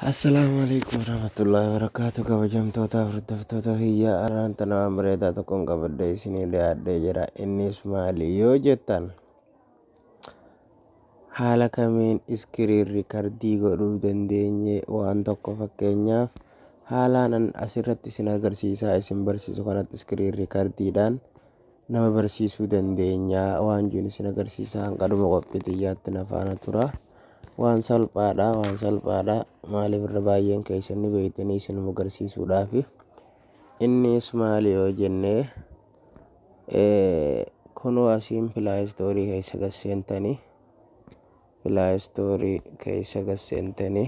Assalaamu alaikum warahmatullahi wabarakatuh kabajamtoota hordoftoota kiyya araan tana waan bareedaa tokkoon qabadhee isinii dhiyaadhee jira innis maali yoo jettan haala kamiin iskiriin rikardii godhuu dandeenye waan tokko fakkeenyaaf haalaan an asirratti isin agarsiisaa isin barsiisu kanatti iskiriin rikardiidhaan nama barsiisuu dandeenya waan jiru isin agarsiisa hanga dhuma qophii xiyyaatti na faana tura waan salphaadha waan salphaadha maaliif irra baay'een keessan ni beektanii isin agarsiisuudhaaf innis maali yoo jennee kunoo asiin pilaayistoorii keessa gasseentanii pilaayistoorii keessa gasseentanii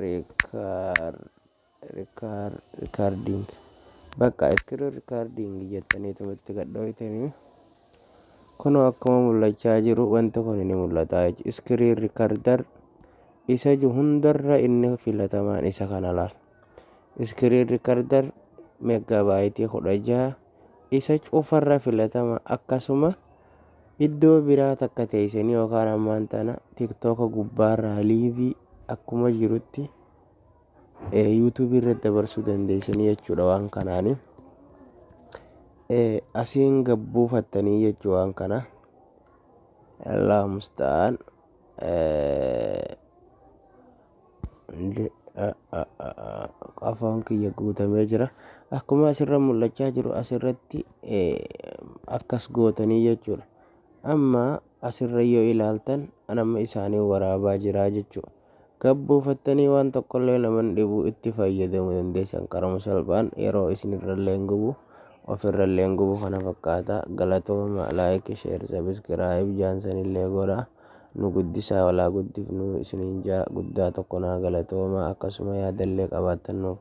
Record record recording bakka screen recording jettaniituma itti gad dhooytanii kunoo akkuma mul'achaa jiru wanti kun ni mul'ata jechuudha screen recorder isa ju hundarra inni filatamaan isa kana laal screen recorder megaabaayitii kudha jaha isa cufa irra filatama akkasuma iddoo biraa takka teeysanii yookaan ammaan tana tiktoka gubbaa irraa liivii akkuma jirutti yuutuubii irratti dabarsuu dandeeysanii jechuudha waan kanaani asiin gabbuufattanii jechuu waan kana allahu musta'aan Afoon kiyya guutamee jira. Akkuma asirra mul'achaa jiru asirratti akkas gootanii jechuudha. Amma asirra yoo ilaaltan nama isaanii waraabaa jiraa jechuudha. Gabbuufattanii waan tokkollee naman dhibuu itti fayyadamu dandeessan qarama salphaan yeroo isinirrallee hin gubu ofirrallee hin gubu kana fakkaata galatooma laayik sheer sabiskiraayib jaansanillee godhaa. nu guddisaa wal haa guddifnu isiniin ja'a guddaa tokko naa galatoomaa akkasuma yaadallee qabaattan nuuf